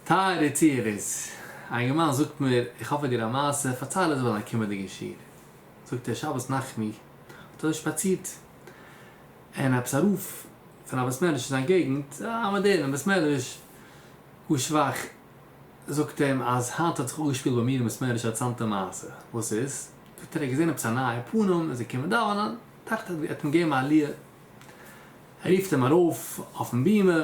טייערע צוהערערס, א אינגערמאן זאגט מיר, איך האף איך דיר א מעשה, פארצייל עס ביי דיין קומענדיגן שיעור. זאגט ער, שבת נחמו האט ער שפאצירט און עפעס א רוף פון א בית מדרש אין זיין געגנט, א מאדערנעם בית מדרש, גאר שוואך, זאגט אים אז היינט האט זיך אפגעשפילט ביי מיר אין בית מדרש א ארצאנטע מעשה, וואס איז? זאגט ער, ער האט געזען עפעס א נייע פנים און זיי קומען דאווענען, דאכט ער ער האט אים געגעבן א עליה, ער רופט אים ארויף אויפן בימה,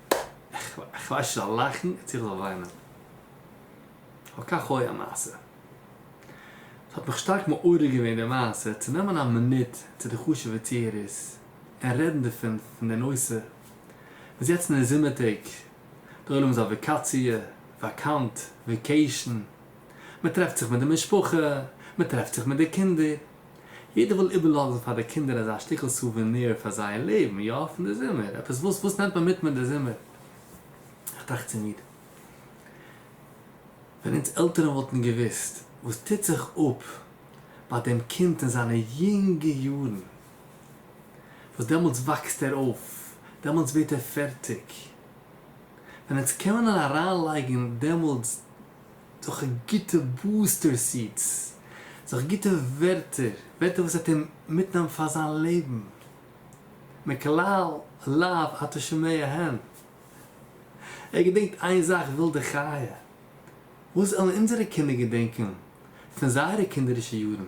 איך ווייס נישט זאל לאכן צו איך זאל וויינען. אבל כך הוי המעשה. ס'האט מיך שטארק מעורר געווען די מעשה צו נעמען א מינוט צו די חשוב'ע צוהערערס און רעדן דערפון פון די נושא וואס יעצט אין די זומער טעג די עולם איז אויף וואקאציע, וואקאנט, וואקעישן, מ'טרעפט זיך מיט די משפחה, מ'טרעפט זיך מיט די קינדער. יעדער וויל איבערלאזן פאר די קינדער אזא שטיקל סוּוועניר פאר זייער לעבן, יא, פון די זומער, עפעס וואס, וואס נעמט מען מיט מיט די זומער? איך טראכט צו מיר, ווען אונז עלטערן וואלטן געוואוסט וואס טוט זיך אפ ביי דעם קינד אין זיינע יונגע יארן, וואס דעמאלטס וואקסט ער אויף, דעמאלטס ווערט ער פערטיג, ווען אונז קען מען אריינלייגן דעמאלטס. זיך גוטע בוסטער סיעטס, זיך גוטע ווערטער, ווערטער וואס וועט אים מיטנעמען פאר זיין לעבן, מקלל לאו אתה שומע הן, ער געדענקט איין זאך ווילדע חיה, וואס וועלן אונזערע קינדער געדענקען פון זייערע קינדערישע יארן?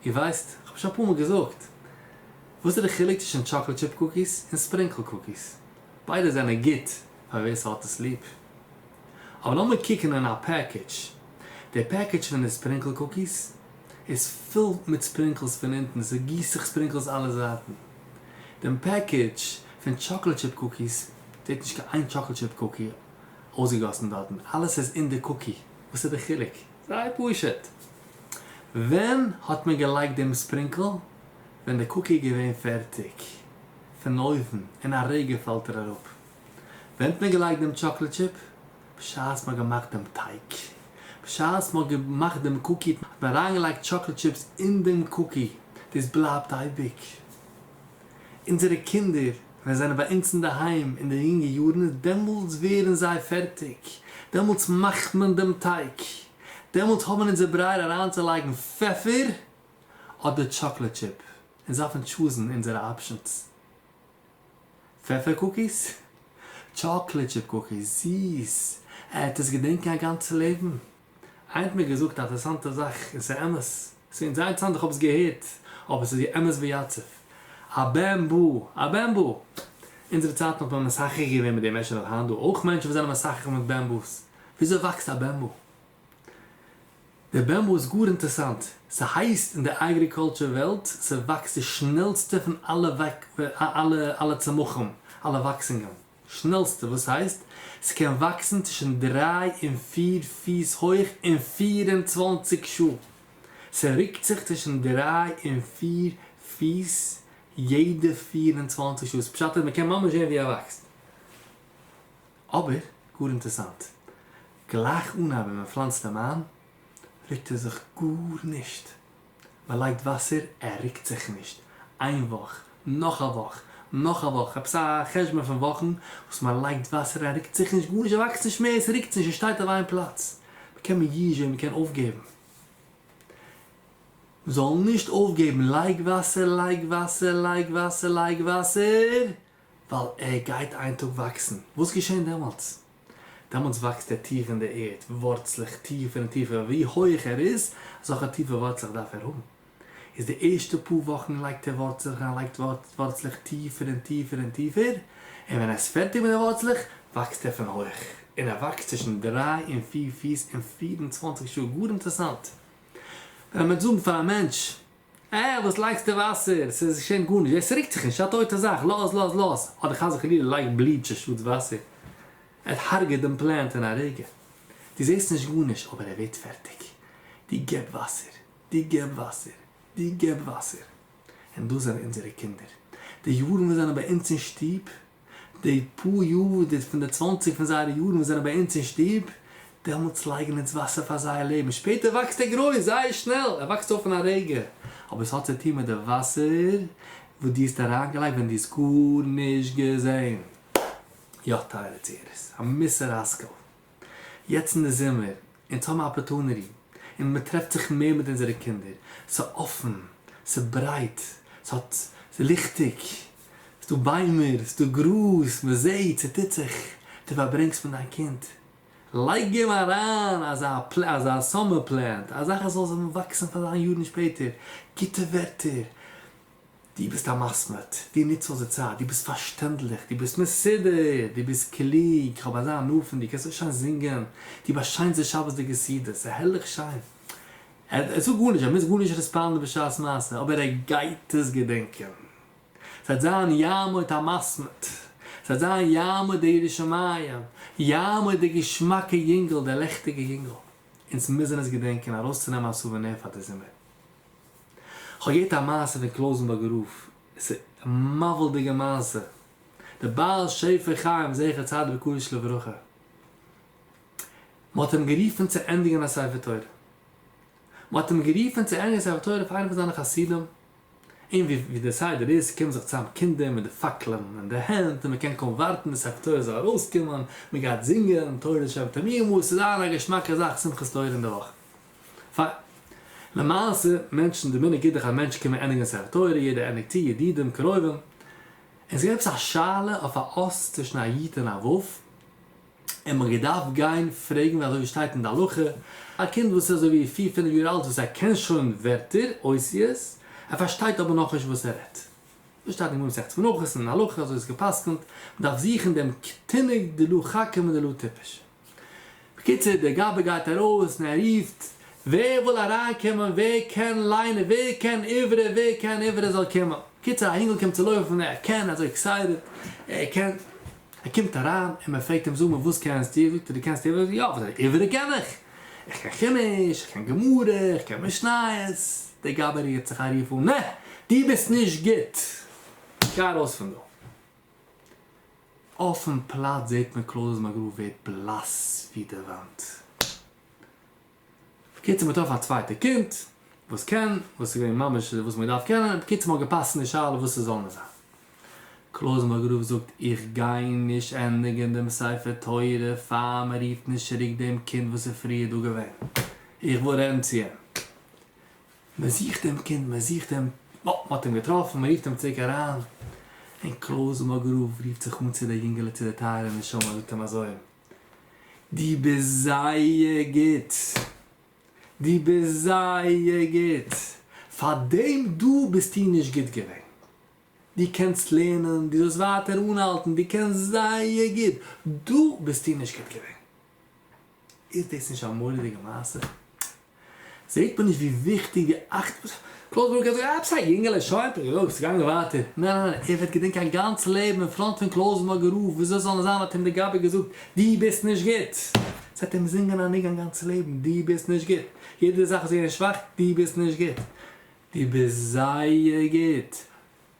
איר ווייסט, איך האב שוין אפאר מאל געזאגט, וואס איז די חילוק צווישן טשאקלעד טשיפ קוקיס און ספרינקל קוקיס? ביידע זענען גוט. פאר ווער ס'האט עס ליב. אבער לאמיר קוקן אין א פעקעדזש. די פעקעדזש פון די ספרינקל קוקיס איז פול מיט ספרינקלס פון אונטן, ס'גיסט זיך ספרינקלס אלע זייטן. דעם פעקעדזש פון טשאקלעד טשיפ קוקיס זעט נישט קיין איין טשאקלעד טשיפ קוקי אויסגעגאסן דארטן, אלעס איז אין די קוקי. וואס איז די חילוק? זייער פשוט. ווען האט מען געלייגט דעם ספרינקל? ווען די קוקי איז געווען פערטיג פון אויוון, אין א רגע פאלט ער אראפ. ווען האט מען געלייגט דעם טשאקלעד טשיפ? בשעת מ'האט געמאכט דעם טייג. בשעת מ'האט געמאכט דעם קוקי האט מען אריינגעלייגט טשאקלעד טשיפס אין דעם קוקי. דאס בלייבט אייביג. אונזערע קינדער ווען זיי זענען ביי אונז אינדערהיים אין די יונגע יארן, דעמאלטס ווערן זיי פערטיג. דעמאלטס מאכט מען דעם טייג. דעמאלטס האבן אונזער ברייער אריינצולייגן פעפער אדער טשאקלעד טשיפ. אונז דארפן טשוזן אונזערע אפשענס. פעפער קוקיס? טשאקלעד טשיפ קוקיס, זיס! ער האט עס געדענקען א גאנצע לעבן. איינער האט מיר געזאגט א אטערעסאנטע זאך און ס'איז אמת. ס'איז אונז זייער אינטערעסאנט איך האב עס געהערט אבער ס'איז ווי אמת ויציב. א בן בו! א בן בו! אונזערע צייטן האט מען מסחר געווען מיט די מענטשן אויף היינט דא אויך מענטשן וואס זענען מסחר מיט בן בו'ס. וויאזוי וואקסט א בן בו? די בעמבו איז גאר אינטערסאנט, ס'הייסט אין די אגריקולטשור וועלט ס'וואקסט די שנעלסטע פון אלע צמחים, אלע וואקסונגען, שנעלסטע וואס הייסט ס'קען וואקסן צווישן דריי און פיר פיס הויך אין פֿיר און צוואַנציק שעה, ס'רוקט זיך צווישן דריי און פיר פיס יעדע פֿיר און צוואַנציק שעות, פשט איז מ'קען ממש זען ווי ער וואקסט. אבער גאר אינטערסאנט, גלייך אנהייב ווען מען פלאנצט אים איין, רוקט ער זיך גארנישט, מען לייגט וואסער ער רוקט זיך נישט, איין וואך, נאך א וואך, נאך א וואך, עפעס א חשבון פון וואכן וואס מען לייגט וואסער ער רוקט זיך נישט, גארנישט, ער וואקסט נישט מער, עס רוקט זיך נישט, עס שטייט אויף איין פלאץ, מען קען מיר ייש זען, מען קען אויפגעבן, מען זאל נישט אויפגעבן, לייג וואסער, לייג וואסער, לייג וואסער, לייג וואסער, ווייל ער גייט איין טאג וואקסן. וואס געשען דעמאלטס? דעמאלטס וואקסט ער טיף אין די ערד, ווארצלעך טיפער און טיפער, ווי הויעך ער איז, אזעלכע טיפע ווארצלעך דארף ער האבן. איז די ערשטע פאר וואכן לייגט ער ווארצלעך און ער לייגט ווארצלעך טיפער און טיפער און טיפער, און ווען ער איז פערטיג מיט די ווארצלעך, וואקסט ער פון הויעך, און ער וואקסט צווישן דריי און פיר פיס אין פיר און צוואנציג שעה, גאר אינטערעסאנט. ווען מ'וועט זאגן פאר א מענטש אה, וואס לייגסטו וואסער? ס'איז שוין גארנישט ווער ס'רוקט זיך נישט, ס'איז א טויטע זאך, לאז לאז לאז, אדער חס וחלילה לייג בליטש אנשטאט וואסער, עס הרג'עט דעם פלענט אין א רגע, דו זעסט נישט גארנישט אבער ער ווערט פערטיג, דו געב וואסער, דו געב וואסער, דו געב וואסער, און דאס זענען אונזערע קינדער, די יארן וואס זענען ביי אונז אין שטוב, די פאר יאר די פון די צוואנציג פון זייערע יארן וואס זענען ביי אונז אין שטוב, דעמאלטס לייגן אונז וואסער פאר זייער לעבן, שפעטער וואקסט ער גרויס זייער שנעל, ער וואקסט אויף אין א רגע, אבער עס האט צו טון מיט די וואסער וואס דו האסט אריינגעלייגט ווען דו האסט גארנישט געזען. יא טייערע צוהערערס, א מוסר השכל. יעצט אין די זומער אונז האבן אפערטוניטי און מען טרעפט זיך מער מיט אונזערע קינדער, ס'איז אפען, ס'איז ברייט, ס'האט, ס'איז ליכטיג, ס'דא ביימער, ס'דא גראז, מען זעהט, ס'טוט זיך, דו פארברענגסט מיט דיין קינד, לייג אים אריין אזא פלען, אזא סאמער פלענט, א זאך עס זאל וואקסן פאר זיין יארן שפעטער, גוטע ווערטער, דו ביסט א מסמד, דו נוצט אויס די צייט, דו ביסט פארשטענדליך, דו ביסט מסודר, דו ביסט קלוג, איך האב אזא הנאה פון דיר, קענסט אויך שיין זינגען, דו באשיינס די שבת'דיגע סעודות, הערליך שיין. ער זאגט גארנישט, ער מוז גארנישט רעספאנדן בשעת מעשה, אבער ער גייט עס געדענקען. ס'וועט זיין יעמוד המסמד, ס'וועט זיין יעמוד דער ירא שמים, יעמוד דער געשמאקער יונגל, דער לעכטיגער יונגל. אונז מוזן עס געדענקען ארויסצונעמען א סאוועניר פאר די זומער. כ'האב געהערט א מעשה פון קלויזענבורגער רב, עס איז מבהיל'דיגע מעשה, דער בעל שפע חיים זכר צדיק וקדוש לברכה, מ'האט אים גערופען צו ענדיגען א ספר תורה, מ'האט אים גערופען צו ענדיגען א ספר תורה פאר איינע פון זיינע חסידים, און ווי דער סדר איז קומען זיך צוזאם קינדער מיט די פאקלען אין די הענט און מ'קען קוים ווארטען די ספר תורה זאל ארויסקומען, מ'גייט זינגען תורת שבתא מימא, ס'איז זייער א געשמאקע זאך שמחת תורה אינדערוואכען. פיין. למעשה, מענטשן, די מנהג איז דאך אז מענטשן קומען ענדיגן ספר תורה, יעדער ענדיגט צו, ידידים, קרובים. און ס'איז געווען עפעס א שאלה אויף א אס צווישן א יו ט און א וו, און מ'האט געדארפט גיין פרעגן ווי אזוי ווי ס'שטייט אין די הלכה, א קינד וואס איז אזוי ווי פיר פינף יאר אלט וואס ער קען שוין ווערטער, אותיות, ער פארשטייט אבער נאכנישט וואס ער רעדט. דאס שטייט אין גמרא מסכת מנחות און אין הלכה אזוי איז עס געפסקנט, מ'דארף זוכן דעם קטינ'יג דלא חכם ולא טיפש. בקיצור דער גבאי גייט ארויס און ער רופט ווער וויל אריין קומען ווער קען ליינען ווער קען עברית ווער קען עברית זאל קומען בקיצור א אינגל קומט צו לויפן ער קען אזוי עקסייטעד ער קען ער קומט אריין און מען פרעגט אים זאג מיר וואס קענסטו זאגט ער דו קענסט עברית יא וואס זאגט ער עברית קען איך איך קען חומש איך קען גמרא איך קען משניות דער גבאי רעגט זיך א רוף אן נע דו ביסט נישט גוט גיי ארויס פון דא. אויפן פלאץ זעט מען קלאר אז מאגרא ווערט בלאס ווי די וואנט. בקיצור מען טרעפט א צווייטע קינד וואס קען, וואס איז געווען ממש וואס מען דארף קענען, בקיצור מען האט געפאסט אין די שאלה וואס עס זאל מען זיין. קלאר מאגרא זאגט איך גיי נישט ענדיגען דעם ספר תורה פאר מען רופט נישט צוריק דעם קינד וואס איז פריער דא געווען, איך ווארענט צו אים. מען זוכט דעם קינד, מען זוכט אים, בה, מען האט אים געטראפן, מען רופט אים צוריק אריין, און קלויז מאגאראוו רופט זיך אן צו דער יונגעלע, צו דער טייערער נשמה, און זאגט אים אזוי, דו ביסט זייער גוט, דו ביסט זייער גוט, פאר דעם דא ביסטו נישט גוט געווען, דו קענסט לערנען, דו זאלסט ווייטער אנהאלטן, דו קענסט זייער גוט, דא ביסטו נישט גוט געווען. איז דאס נישט א מורא'דיגע מעשה? זעהט מען נישט ווי וויכטיג די אכט וואס קלויזבורג האט געהאט? עפעס א יונגעלע שוין פארגעלויפט ס'איז געגאנגען ווייטער. ניין ניין ניין ער וועט געדענקען א גאנץ לעבן אין פראנט פון קלויזבורג א רוף וויאזוי זאל עס זיין האט אים די גבאי געזאגט דו ביסט נישט גוט ס'וועט אים זינגען א ניגון גאנץ לעבן דו ביסט נישט גוט יעדע זאך איז געווען שוואך דו ביסט נישט גוט דו ביסט זייער גוט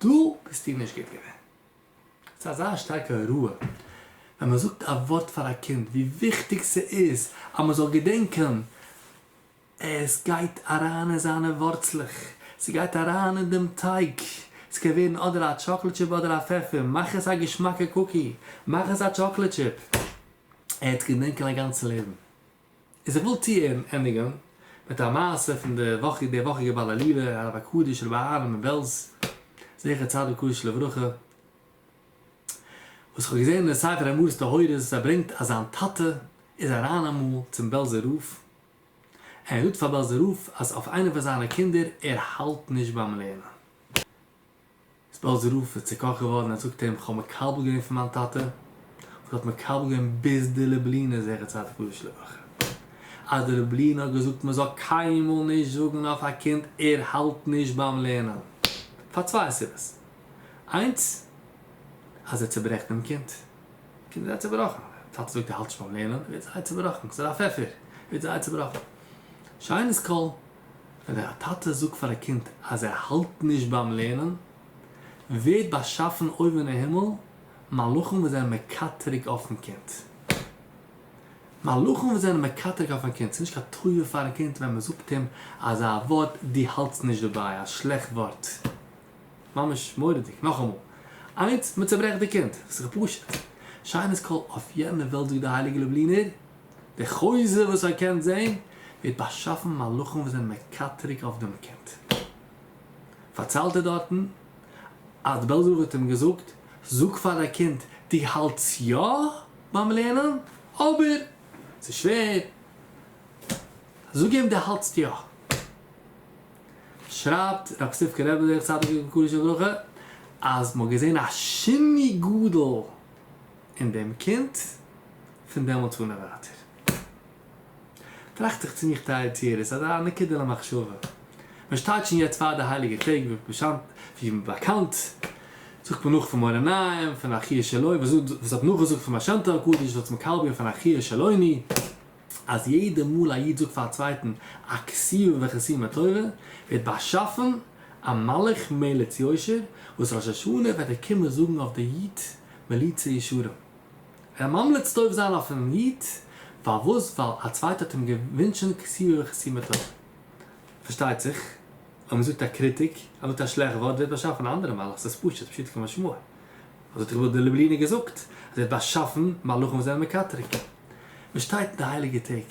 דו ביסטו נישט גוט געווען. ס'איז אזא שטארקע הוראה ווען מען זאגט א ווארט פאר א קינד ווי וויכטיג ס'איז אז מען זאל געדענקען, עס גייט אריין אין זיינע ווארצלעך, ס'גייט אריין אין דעם טייג, ס'קען ווערן אדער א טשאקלעד טשיפ אדער א פעפער, מאך עס א געשמאקע קוקי, מאך עס א טשאקלעד טשיפ, ער וועט געדענקען א גאנצע לעבן. איז איך וויל טועם ענדיגען מיט א מעשה פון די וואכיג די וואכיגע בעל עלי' הרב הקדוש רבי אהרן מבעלז זכר צדיק קדוש לברכה וואס כ'האב געזען אין ספר אמונות טהורות וואס ער ברענגט אז זיין טאטע איז אריין אמאל צום בעלזער רב אין ער זאגט פאר בעלזער רב אז אויף איינע פון זיינע קינדער ער האלט נישט ביים לערנען. איז בעלזער רב איז צוקאכט געווארן און זאגט אים איך האב מקבל געווען פון מיין טאטע וואס האט מקבל געווען ביז די לובלינער זכר צדיק וקדוש לברכה אז די לובלינער האט געזאגט מען זאל קיינמאל נישט זאגן אויף א קינד ער האלט נישט ביים לערנען פאר צוויי סיבות איינס אז ער צוברעכט דעם קינד די קינד איז זייער צובראכן די טאטע זאגט ער האלט נישט ביים לערנען ער ווערט זייער צובראכן ס'איז א פעפער ער ווערט זייער צובראכן שיינעס קול. ווען א טאטע זאגט פאר א קינד אז ער האלט נישט ביים לערנען, ווערט באשאפן אויבן אין הימל מלאכים וואס זענען מקטרג אויפן קינד. מלאכים וואס זענען מקטרג אויפן קינד. ס'איז נישט קיין טובה פארן קינד ווען מען זאגט אים אזא ווארט, דו האלטסט נישט דערביי, א שלעכט ווארט. ממש מורא'דיג. נאכאמאל, איינס, מען צעברעכט די קינד. ס'איז פשוט. שיינער'ס קול אויף יענער וועלט זאגט די הייליגע לובלינער. די חוזה וואס איר קענט זעהן ווערט באשאפן מלאכים וואס זענען מקטרג אויף דעם קינד. פארציילט ער דארטן אז די בעלזער רב האט אים געזאגט, זאג פאר די קינד דו האלטסט יא ביים לערנען, אבער ס'איז שווער, זאג אים דו האלטסט יא. שרייבט רב ספירקא רבי זכר צדיק לברכה אז מ'האט געזעהן א שני גדול, און דעם קינד פון דעמאלטס אן און ווייטער. טראכט איך צו מיך טייער צוהערער, ס'איז א נקודה למחשבה. מען שטייט שוין יעצט פאר די הייליגע טעג, ווי באקאנט זאגט מען נאך פון מראה נעים, פון אחיה שלו, וואס האט נאכגעזאגט פון משנתו הקדוש, זאלסט מקבל זיין פון אחיה שלוני, אז יעדע מאל א איד זאגט פאר א צווייטן א כסיו וכסימא טובה, ווערט באשאפן א מלאך מליץ יושר, וואס ראש השנה וועט ער קומען זאגן אויף די איד מליצי ישרים. ער ממליץ טוב זיין אויפן איד, פארוואס? ווייל א צווייטער האט אים געוואונטשן כסיו וכסימא טובה. פארשטייט זיך, אויב מען זאגט א קריטיק, אז מען זאגט א שלעכט ווארט, ווערט באשאפן א אנדערע מלאך, ס'איז פשוט, פשוטו כמשמעו. אזוי האט דער גדול דער לובלינער געזאגט, אז ער האט באשאפן מלאכים וואס זענען מקטרג. מען שטייט אין די הייליגע טעג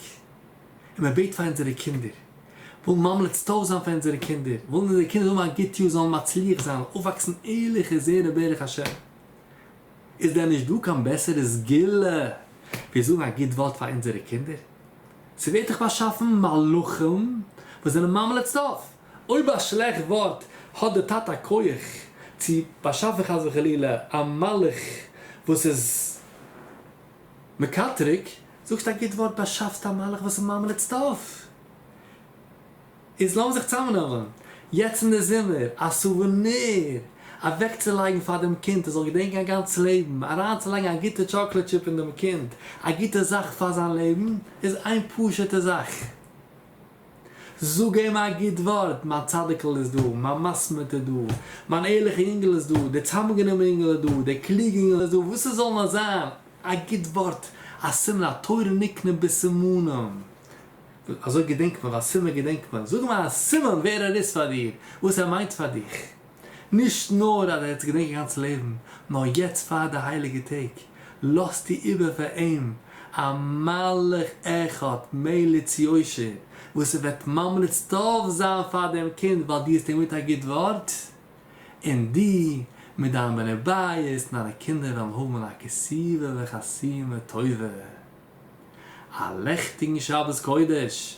און מען בעט פאר אונזערע קינדער, ווילן ממליץ טוב זיין פאר אונזערע קינדער, ווילן אונזערע קינדער האבן א גוט יאר, זאלן מצליח זיין, אויפוואקסן ערליכע זרע ברך השם. איז דען נישט דא קיין בעסערע סגולה ווי זאגן א גוט ווארט פאר אונזערע קינדער? ס'ווערט דאך באשאפן מלאכים וואס זענען ממליץ טוב. אויב א שלעכט ווארט האט דער טאטע א כח צו באשאפן חס וחלילה א מלאך וואס איז. מקטריג, זאגסט א גוט ווארט באשאפסט א מלאך וואס איז ממלא את סדאו. איז לאמיר זיך צאמנעמען יעצט אין די זומער א סאוועניר אוועקצולייגן פאר דעם קינד ער זאל געדענקען א גאנץ לעבן, אריינצולייגן א גוטע טשאקלעד טשיפ אין דעם קינד, א גוטע זאך פאר זיין לעבן, איז איין פשוטע זאך. זאג אים א גוט ווארט, מיין צדיק'ל איז דא, מיין מסמיט איז דא, מיין ערליכע יונגעל איז דא, דער צוזאמגענומענע יונגעל איז דא, דער קלוגע יונגעל איז דא, וואס עס זאל נאר זיין, א גוט ווארט, א סימן, התורה נקנית בסימנים, אזוי געדענקט מען, ווייל סימן געדענקט מען, זאג אים א סימן ווער ער איז פאר דיר, וואס ער מיינט פאר דיך. נישט נאר אז ער האט עס געדענקט זיין גאנץ לעבן, נאר יעצט פאר די הייליגע טעג לאזט איר איבער פאר אים א מלאך אחד מליץ יושר וואס ער וועט ממליץ טוב זיין פאר דעם קינד ווייל דו האסט אים גערעדט א גוט ווארט, און דו מיט דיין בני בית און דיינע קינדער וועלן האבן א כסובה וחסימה טובה. א לעכטיגן שבת קודש!